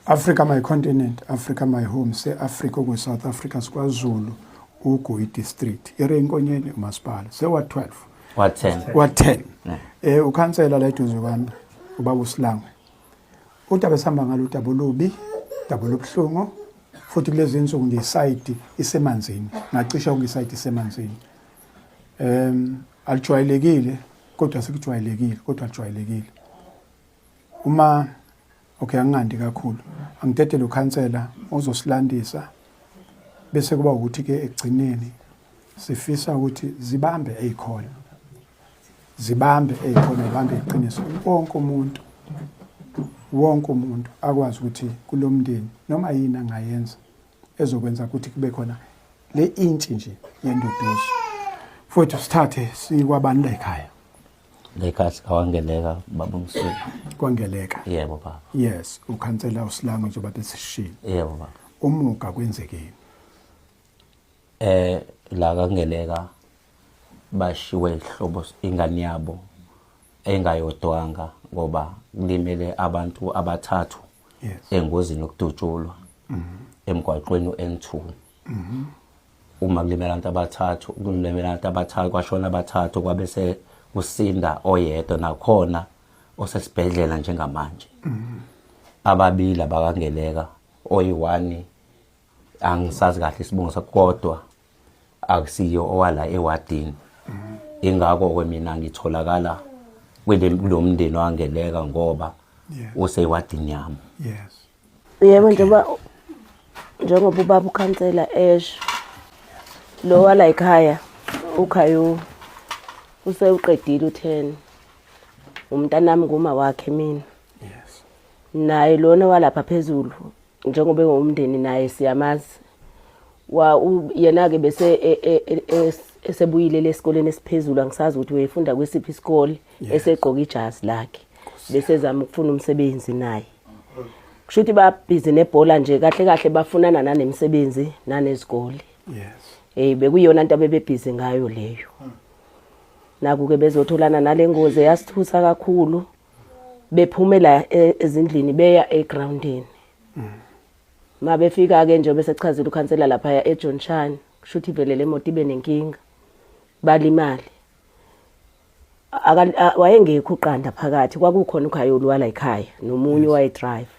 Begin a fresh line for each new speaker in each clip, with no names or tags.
Africa my continent, Africa my home, se Africa ku South Africa sikwazulu uGuyi district. Ere inkonyeni umasipala se wa 12. Wa 10. Wa
10.
Eh ukhansela la eduze kwami ubaba uSilangwe. Udaba esihamba ngalo udaba olubi, udaba olubuhlungu futhi kulezi nsuku nje isayidi isemanzini, ngacisha konke isayidi isemanzini. Um alijwayelekile kodwa sekujwayelekile kodwa alijwayelekile. Uma okay angingandi kakhulu angidede lo khansela ozosilandisa bese kuba ukuthi ke ekugcineni sifisa ukuthi zibambe ezikhona zibambe ezikhona zibambe iqiniso wonke umuntu wonke umuntu akwazi ukuthi kulomndeni noma yini angayenza ezokwenza ukuthi kube khona le intshi nje yenduduzo futhi sithathe sikwabani la ekhaya la ekhaya
sikawangeleka baba umsulu kwangeleka
yebo baba
yes ukhansela
usilango njengoba besishilo yebo baba
umuka kwenzekeni
eh
la kangeleka bashiwe ihlobo ingane yabo engayodwanga ngoba kulimele abantu abathathu engozini yokudutshulwa mm-hmm. emgwaqweni u-N2 mm-hmm. uma kulimele abantu abathathu kulimele abantu abathathu kwashona abathathu kwabe se kusinda oyedwa nakhona osesibhedlela njengamanje mm-hmm. ababili abakangeleka oyi-1 angisazi kahle isibongo sakho kodwa akusiyo owala ewadini ingakho ke mina ngitholakala kulo mndeni wangeleka ngoba useyiwadini yami
yes yebo njengoba njengoba ubaba ukhansela esho lo wala ekhaya ukhayo usewuqedile u10 umntanami nguma wakhe mina yes naye lona walapha phezulu njengoba engowumndeni naye siyamazi wa yena ke bese e, e, e, esebuyile lesikoleni esiphezulu angisazi ukuthi wayefunda kwesiphi isikole esegqoka ijazi lakhe bese zama ukufuna umsebenzi naye kusho ukuthi babhizi nebhola nje kahle kahle bafunana nanemsebenzi nanezikole yes hey bekuyona into abebebhizi ngayo leyo hmm. naku ke bezotholana nalengozi eyasithusa kakhulu bephumela e, ezindlini beya egroundini ma befika ke nje bese kuchazile ukhansela lapha ya eJohn Chan kushuthi vele lemoto ibe nenkinga balimali wayengekho uqanda phakathi kwakukhona ukhayoli wala ekhaya nomunye waye drive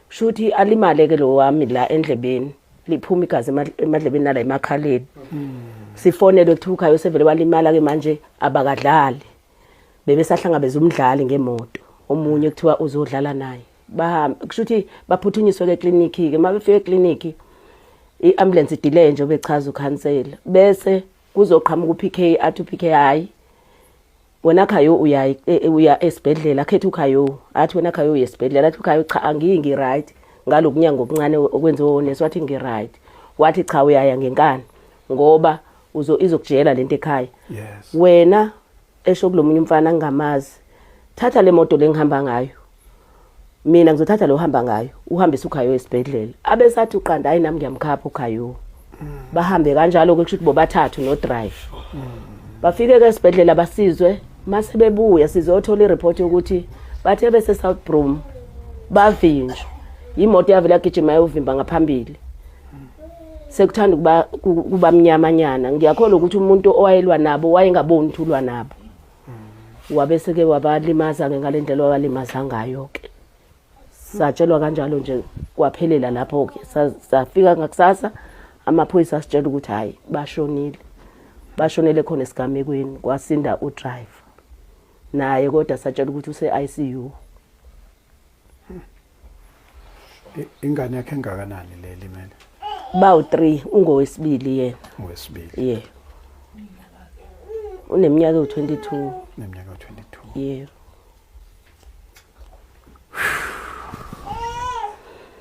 kushuthi alimale ke lo wami la endlebeni liphuma igazi emadlebeni nala emakhaleni sifonelwe kuthiwa ukhaya usevele walimala ke manje abakadlali bebesahlangabeza umdlali ngemoto omunye kuthiwa uzodlala naye bahambe kusho ukuthi baphuthunyiswe ke clinic ke uma befike clinic iambulance delay nje obechaza ukhansela bese kuzoqhamuka uPK athi uPK hayi wena khayo uya e, e, uya esibhedlela akhethe ukhayo athi wena khayo uya esibhedlela athi ukhayo cha angingi right ngalokunyanga okuncane okwenziwe onesi wathi ngi right wathi cha uyaya ngenkani ngoba uzo izokujela lento ekhaya yes wena esho kulomunye umfana ngamazi thatha le moto lengihamba ngayo mina ngizothatha lo hamba ngayo uhambisa ukhayo esibhedlela abesathi uqanda hayi nami ngiyamkhapha ukhayo bahambe kanjalo ke kusho ukuthi bobathathu no drive bafike ke esibhedlela basizwe mase bebuya sizothola ireport yokuthi bathe bese South Brom bavinjwa imoto yavela gijima yovimba ngaphambili sekuthanda ukuba kuba mnyamanyana ngiyakholwa ukuthi umuntu owayelwa nabo wayengaboni ukuthi ulwa nabo wabe seke wabalimaza-ke ngale ndlela wabalimaza ngayo-ke satshelwa kanjalo nje kwaphelela lapho-ke safika ngakusasa amaphoyisa asitshela ukuthi hhayi bashonile bashonele khona esigamekweni kwasinda udriver naye kodwa satshela ukuthi use-i c u
I- ingane yakhe engakanani le limele bawu 3
ungowesibili yena owesibili ye uneminyaka ewu-22 neminyaka u-22
ye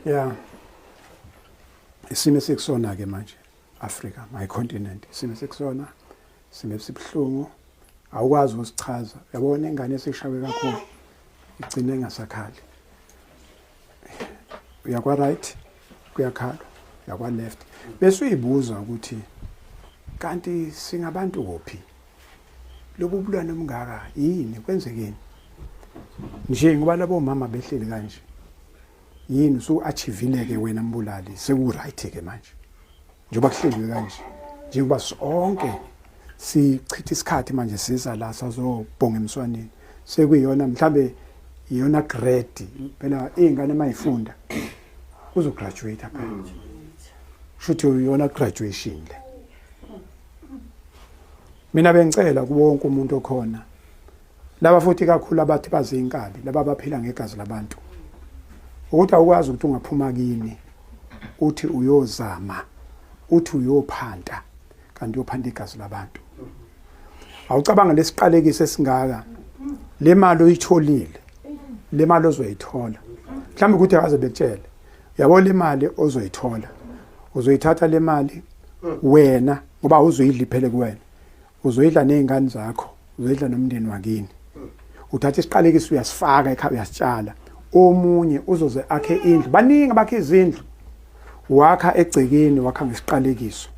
ya isimo esikusona-ke manje afrika my continent isimo esikusona sime sibuhlungu awukwazi ukusichaza yabona ingane esishawe kakhulu igcine ingasakhali uyakwa right kuyakhala yakwa left bese uyibuza ukuthi kanti singabantu kuphi lobu bulwane obungaka yini kwenzekeni nje ngoba labo mama behleli kanje yini usu achievile ke wena mbulali seku right ke manje njengoba kuhleliwe kanje njengoba sonke sichitha isikhathi manje siza la sazobhonga emswaneni sekuyiyona mhlambe iyona grade phela izingane mayifunda uzo graduate phela shuthi uyona graduation le mina bengicela kuwonke umuntu okhona laba futhi kakhulu abathi bazinkabi laba baphila ngegazi labantu ukuthi awukwazi ukuthi ungaphuma kini uthi uyozama uthi uyophanta kanti uyophanda igazi labantu awucabanga lesiqalekiso esingaka le mali oyitholile le mali ozoyithola mhlawumbe ukuthi akaze bekutshele yabo le mali ozoyithola uzoyithatha le mali wena ngoba uzoyidliphele kuwena uzoyidla nezingane zakho uzoyidla nomndeni wakini uthatha isiqalekiso uyasifaka ekhaya uyasitshala omunye uzoze akhe indlu baningi abakhe izindlu wakha egcekeni wakha ngesiqalekiso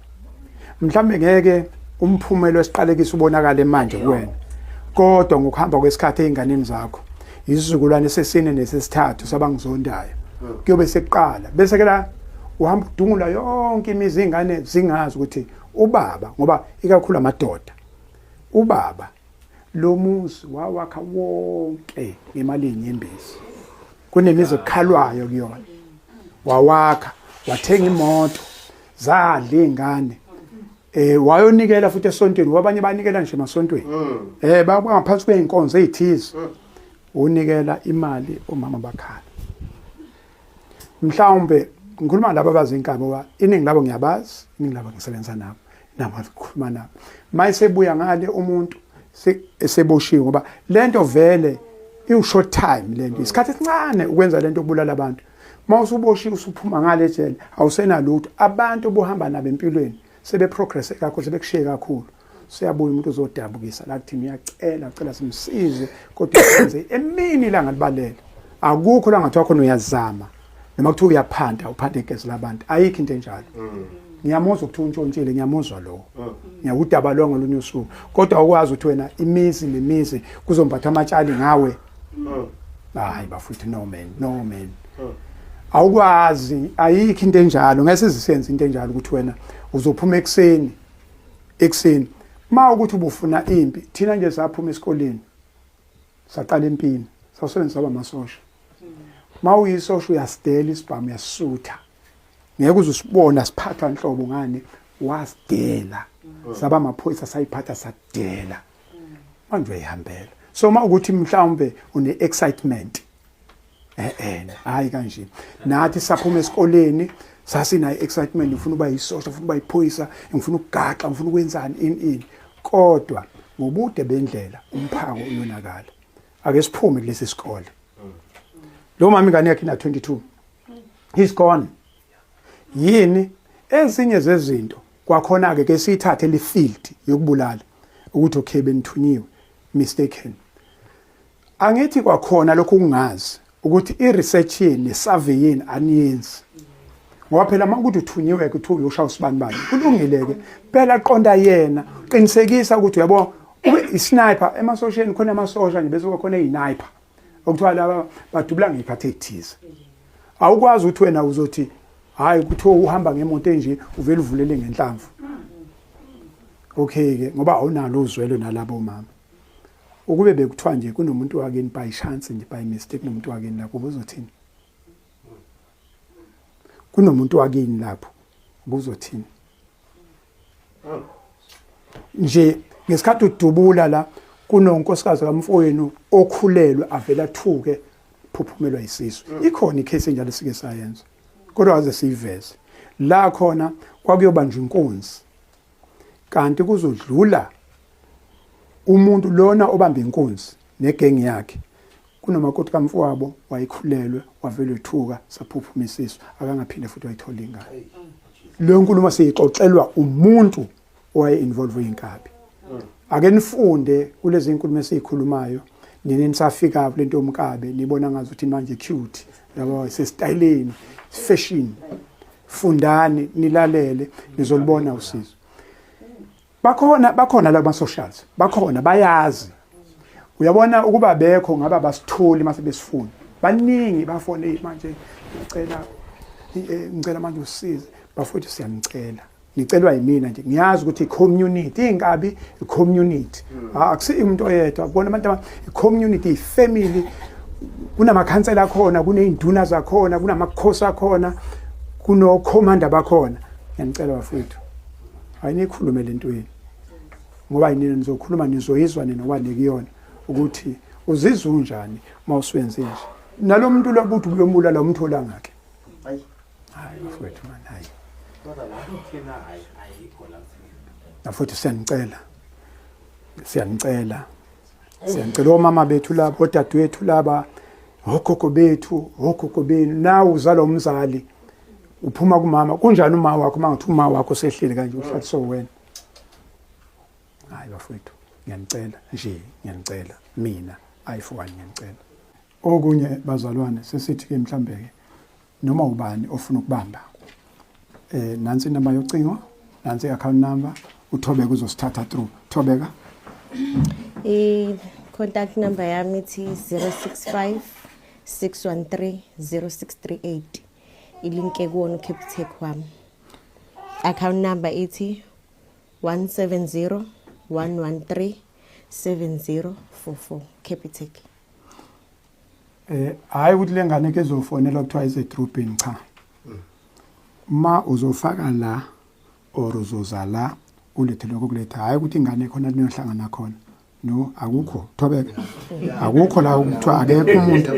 mhlawumbe ngeke umphumela wesiqalekiso ubonakale manje kuwena kodwa ngokuhamba kwesikhathi ezinganeni zakho isizukulwane sesine nesesithathu sabangizondayo kuyobe sekuqala bese ke la uhamba udungula yonke imizi ingane zingazi ukuthi ubaba ngoba ikakhulu amadoda ubaba lo muzi wawakha wonke ngemali yenyembezi kunemizi ekhalwayo kuyona wawakha wathenga imoto zadla ingane eh wayonikela futhi esontweni wabanye banikela nje emasontweni mm. eh bangaphansi kweinkonzo ezithize mm. unikela imali omama bakhala mhlawumbe ngikhuluma laba abazi inkabi ngoba iningi labo ngiyabazi iningi labo ngisebenza nabo nabo ngikhuluma nabo mayisebuya ngale umuntu eseboshiwe ngoba lento vele iwu short time lento isikhathi esincane ukwenza lento kubulala abantu uma usuboshiwe usuphuma ngale ejele awusenalutho abantu obuhamba nabo empilweni sebeprogresse kakhulu sebekushiye kakhulu siyabuya umuntu uzodabukisa la kuthini uyacela ucela simsize kodwa senze emini ilanga libalele akukho la ngathiwa khona uyazama noma kuthiwa uyaphanda uphanda igezi labantu ayikho into enjalo mm. ngiyamuzwa ukuthi untshontshile ngiyamuzwa lowo mm. ngiyakudaba lowo ngolunye usuku kodwa ukwazi ukuthi wena imizi nemizi kuzombatha amatshali ngawe mm. hayi bafuthi no man no man awukwazi ayikho into enjalo ngeke sizisenze into enjalo ukuthi wena uzophuma ekuseni ekuseni ma ukuthi ubufuna impi thina nje saphuma esikoleni saqala impini sawusebenza saba masosha ma uyisosha uyasidela isibhamu uyasisutha ngeke uzusibona siphathwa nhlobo ngani wasidela saba amaphoyisa sayiphatha sadela manje uyayihambela so uma ukuthi mhlawumbe une-excitement eh hayi kanje nathi saphuma esikoleni sasinayo excitement ngifuna uba yisosha ngifuna uba yiphoyisa ngifuna ukugaxa ngifuna ukwenzani in in kodwa ngobude bendlela umphako uyonakala ake siphume kulesi sikole lo mama ingane yakhe ina 22 he's gone yini ezinye zezinto kwakhona ke ke siyithathe lifield yokubulala ukuthi okay benithunyiwe mistaken Angithi kwakhona lokhu kungazi ukuthi i-research yini ne-survey yini aniyenzi ngoba phela uma ukuthi uthunyiwe kuthiwa uyoshaya usibani bani kulungile-ke phela qonda yena qinisekisa ukuthi uyabo isniper emasosheni khona amasosha nje bese kwakhona iyiniper okuthiwa laba badubula ngey'khathi ey'thize awukwazi ukuthi wena uzothi hhayi kuthiwa uhamba ngemoto enje uvele uvulele ngenhlamvu okay-ke ngoba awunalo uzwelo nalabo mama Ukube bekuthiwa nje kunomuntu wakini by chance nje by mistake nomuntu wakini lapho ubuzothini? Kunomuntu wakini lapho ubuzothini? Nje ngesikhathi udubula la kunonkosikazi kamfowenu okhulelwe avela athuke phuphumelwa isisu mm. ikhona icase enjalo sike sayenza kodwa waze siyiveze la khona kwakuyobanjwa inkunzi kanti kuzodlula umuntu lona obamba inkunzi negengi yakhe kunomakoti kamfowabo wayekhulelwe wavelwe thuka saphuphuma isisu akangaphinde futhi wayithola ingane leyo nkulumo siyixoxelwa umuntu owaye involve inkabi ake nifunde kulezi nkulumo esiyikhulumayo nini nisafika kulento yomkabe nibona ngazi ukuthi manje cute laba sesitayileni fashion fundani nilalele nizolibona usizo bakhona bakhona laba socials bakhona bayazi uyabona ukuba bekho ngaba basitholi mase besifuna baningi bafone manje ngicela eh, ngicela manje usize bafowethu siyanicela ngicelwa yimina nje ngiyazi ukuthi community inkabi community hmm. ah, akusiyo umuntu oyedwa kubona abantu community family kunamakhansela akhona kuney'nduna zakhona kunamakhosi akhona kunokhomanda bakhona ngiyanicela bafowethu hayi niyikhulume le ntweni ngoba yinina nizokhuluma nizoyizwa nina ngoba nikuyona ukuthi uzizwa unjani uma usuwenze nje nalo muntu lokuthi uyombulala umthola ngakhe hayi hayi bafowethu mani hayi bafowethu siyanicela siyanicela Siyacela omama bethu laba, odadewethu laba, ogogo bethu, ogogo benu, nawe uzalwa umzali uphuma kumama kunjani uma wakho uma ngathi uma wakho sehleli kanje uhlaliswe wena hayi bafowethu ngiyanicela nje ngiyanicela mina ayi fowani ngiyanicela okunye bazalwane sesithi ke mhlambe ke noma ubani ofuna ukubamba eh nansi inamba yocingo nansi account number uthobeka uzosithatha through thobeka eh
contact number yami ithi 065 613 0638 ilinke kuwona uCapitec wami account number ithi 170 113 7044 Capitec
eh hayi ukuthi lengane ke zofonela kuthiwa ize trooping cha ma uzofaka la or uzoza la ulethe lokho kuletha hayi ukuthi ingane khona linohlangana khona no akukho thobeke akukho la ukuthiwa akekho umuntu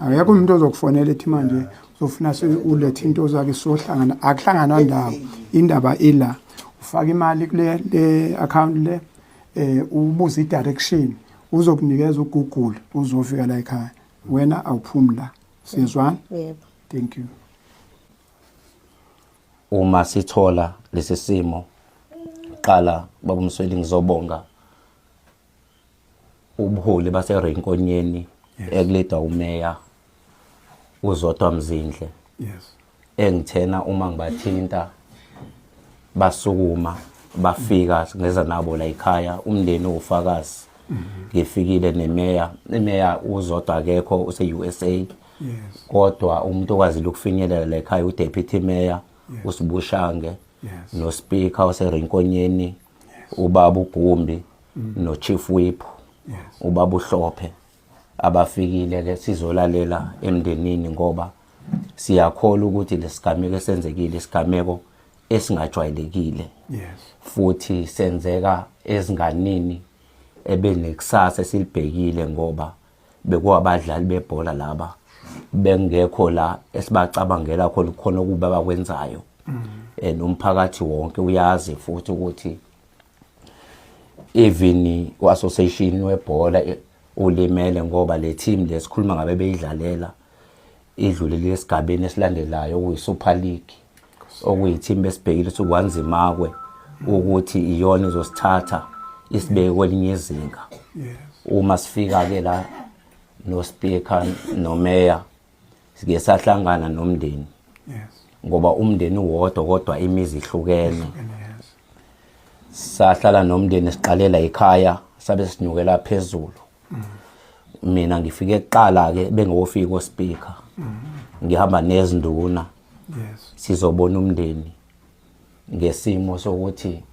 akekho umuntu ozokufonela ethi manje uzofuna ulethe into zakhe sohlangana akuhlanganwa ndawo indaba ila ufaka imali kule account le eh ubuze i-direction uzokunikeza ugoogle uzofika la ekhaya wena awuphumi la siyezwana yebo thank
you
uma sithola lesi simo qala baba Msweli ngizobonga ubuholi base Renkonyeni ekuleda umeya uzodwa Mzindle yes
engithena
uma ngibathinta basukuma bafika ngeza nabo la ekhaya umndeni ufakazi ngifikile nemeya imeya uzodwa akekho use-usa yes.
kodwa
umuntu okwazile ukufinyelela la ekhaya udeputy mayor yes. usibushange yes.
nospeaker
oserinkonyeni yes. ubaba ugumbi mm. nochief whip yes. ubaba uhlophe abafikile ke sizolalela emndenini ngoba siyakhola ukuthi lesigameko esenzekile isigameko esingajwayelekile yes
futhi
senzeka ezinganini ebenekusasa esilibhekile ngoba bekuwabadlali bebhola laba bengekho la esibacabangela khona khona ukuba bakwenzayo mm. and umphakathi wonke uyazi futhi ukuthi even uassociation webhola ulimele ngoba le team lesikhuluma ngabe beyidlalela idlule lesigabeni esilandelayo okuyi Super League okuyi team besibhekile ukuthi kwanzimakwe ukuthi iyona izosithatha isibeke kwelinye izinga uma
sifika
ke la no speaker no mayor sike sahlangana nomndeni
ngoba umndeni
wodwa kodwa imizi ihlukene
sahlala
nomndeni siqalela ekhaya sabe sinyukela phezulu mina ngifike kuqala ke bengewofika ospika ngihamba nezinduna
sizobona umndeni
ngesimo sokuthi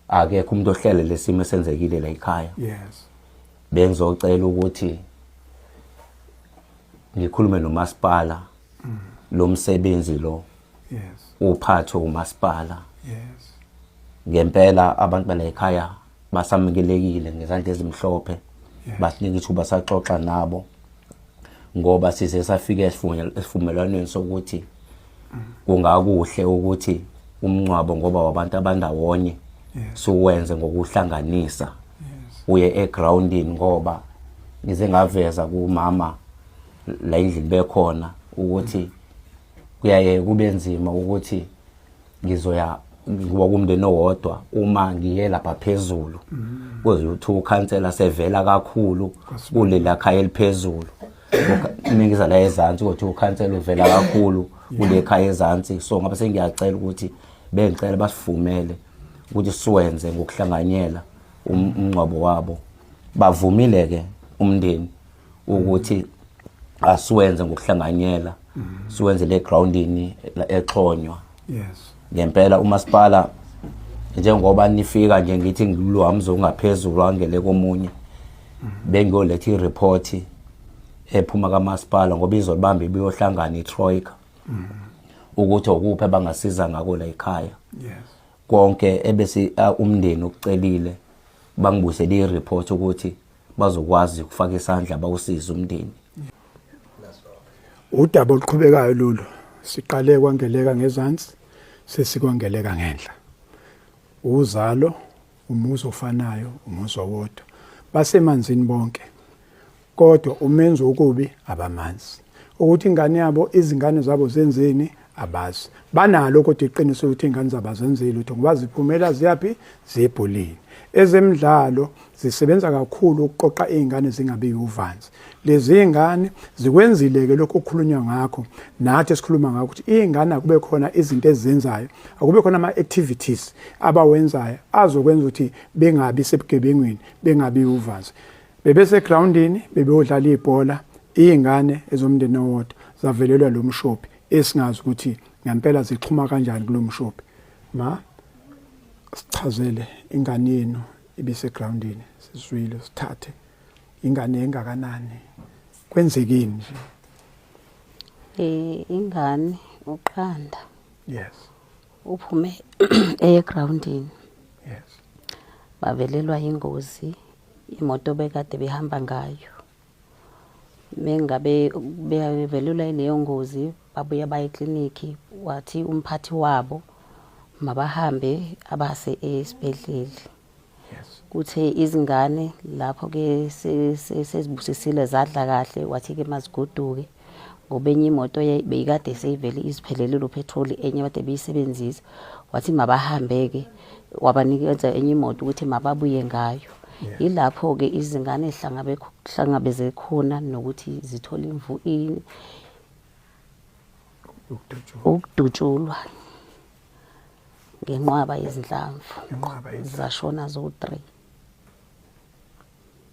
akekho umuntu ohlele lesimo esenzekile la ekhaya yes
bengizocela
ukuthi ngikhulume nomasipala mm. lo msebenzi lo yes
uphathwe
umasipala yes
ngempela
abantu bala ekhaya basamukelekile ngezandla ezimhlophe basinika ithuba saxoxa nabo ngoba size safika esivumelwaneni sokuthi kungakuhle ukuthi umncwabo ngoba wabantu abandawonye siwenze ngokuhlanganisa uye egroundini ngoba ngize ngaveza kumama la endlini bekhona ukuthi kuyaye kube nzima ukuthi ngizoya ngoba kumndeni owodwa uma ngiye lapha phezulu kuze uthi ukhansela sevela kakhulu kulela khaya eliphezulu mina ngiza la ezansi ukuthi ukhansela uvela kakhulu kule khaya ezansi so ngabe sengiyacela ukuthi bengicela basifumele ukuthi siwenze ngokuhlanganyela um-, umngcwabo wabo bavumile ke umndeni ukuthi asiwenze ngokuhlanganyela siwenze le groundini exhonywa yes
ngempela umasipala
njengoba nifika nje ngithi ngiluhamza ungaphezulu angele komunye bengiyoletha i-report ephuma kamasipala ngoba izolibamba ibiyohlangana i-troika ukuthi okuphi abangasiza ngako la ekhaya
konke
ebese umndeni ukucelile bangibusele i-report ukuthi bazokwazi ukufaka isandla bawusize umndeni
udaba oluqhubekayo lolu siqale kwangeleka ngezansi sesikwangeleka ngenhla uzalo umuzi ofanayo umuzi owodwa basemanzini bonke kodwa umenzi okubi abamanzi ukuthi ingane yabo izingane zabo zenzeni abazi banalo kodwa iqiniso ukuthi ingane zabo azenzeli lutho ngoba ziphumela ziyaphi zebholeni ezemidlalo zisebenza kakhulu ukuqoqa izingane zingabi uvanzi lezi izingane zikwenzile ke lokho okukhulunywa ngakho nathi esikhuluma ngakho ukuthi izingane akube khona izinto ezenzayo akube khona ama activities abawenzayo azokwenza ukuthi bengabi sebugebengwini bengabi uvanzi Bebesegroundini bebeyodlala ibhola iy'ngane ezomndeni owodwa zavelelwa lo mshophi esingazi ukuthi ngempela zixhuma kanjani kulo mshophi. Ma sichazele ingane yenu ibisegroundini sizwile sithathe ingane engakanani kwenzekeni nje eh
ingane uqanda yes
uphume
eyegroundini yes bavelelwa ingozi imoto bekade behamba ngayo mengabe bevelelwa yileyo ngozi babuye baye eklinikhi wathi umphathi wabo mabahambe abase esibhedleli
kuthe
izingane lapho-ke sezibusisile zadla kahle wathi-ke mazigoduke ngoba enye imoto beyikade seyivele iziphelelile uphethroli enye kade beyisebenzisa wathi mabahambe-ke wabanikeza enye imoto ukuthi mababuye ngayo yilapho-ke izingane hlangabeze khona nokuthi zithole imvu ini ukudutshulwa ngenqwaba yezinhlamvu zashona zo-three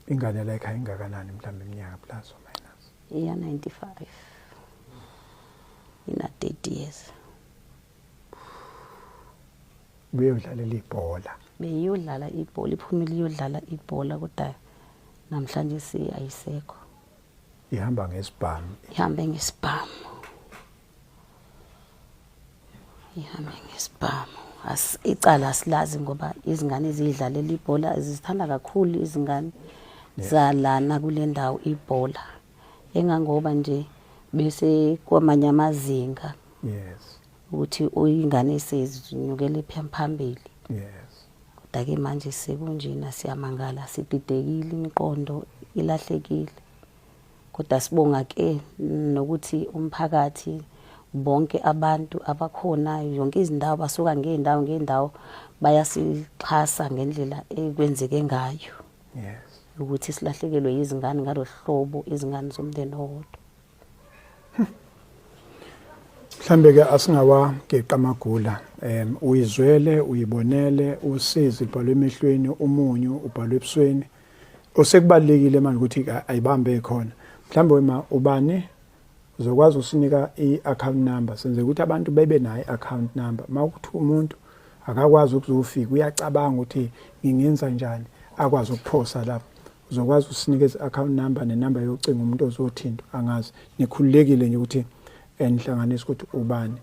ingane like ayingakanani mhlawumbe iminyaka plus or minus iya
95 ina 30 years
beyodlalela ibhola beyodlala
ibhola iphumile iyodlala ibhola kodwa namhlanje siyayisekho
ihamba ngesibhamu ihambe ngesibhamu
ihambe ngesibhamu icala asilazi ngoba izingane ziyidlalela ibhola zizithanda kakhulu izingane zalana kule ndawo ibhola engangoba nje bese kwamanye amazinga yes
ukuthi
uyingane sezinyukele phambili yes
kodwa ke manje
sekunjena siyamangala sididekile imiqondo ilahlekile kodwa sibonga ke nokuthi umphakathi bonke abantu abakhona yonke izindawo basuka ngeendawo ngeendawo bayasixhasa ngendlela ekwenzeke ngayo yes
ukuthi silahlekelwe
izingane ngalohlobo izingane zomndeni owodwa
mhlambe ke asingawageqa amagula em uyizwele uyibonele usizi libhalwe emehlweni umunyu ubhalwe ebusweni osekubalekile manje ukuthi ayibambe khona mhlawumbe wema ubani uzokwazi usinika i-account number senze ukuthi abantu bebe nayo i-account number uma ukuthi umuntu akakwazi ukuzofika uyacabanga ukuthi ngingenza njani akwazi ukuphosa lapho uzokwazi usinike i-account number nenumber yocingo umuntu ozothintwa angazi nikhululekile nje ukuthi enihlanganisa ukuthi ubani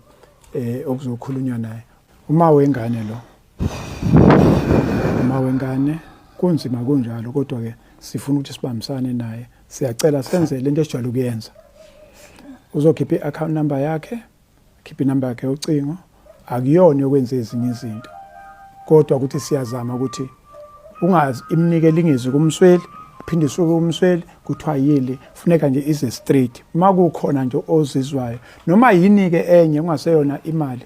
eh okuzokhulunywa naye uma wengane lo Mama wengane kunzima kunjalo kodwa ke sifuna ukuthi sibambisane naye. Siyacela senze lento esijwayele ukuyenza. Uzokhipha i-account number yakhe, khipha inumber yakhe yocingo. Akuyona yokwenza ezinye izinto. Kodwa ukuthi siyazama ukuthi ungazi imnike lingezi kumsweli phinde usuke umsweli kuthiwa yili funeka nje ize straight uma kukhona nje ozizwayo noma yini-ke enye kungaseyona imali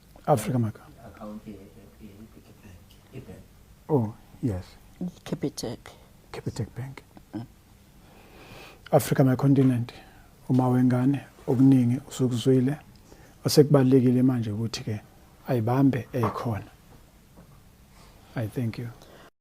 Africa Maka. Oh, yes. Capitec.
Capitec
Bank. Mm. Africa my continent. Uma wengane okuningi usukuzwile osekubalekile manje ukuthi ke ayibambe ekhona. I thank you.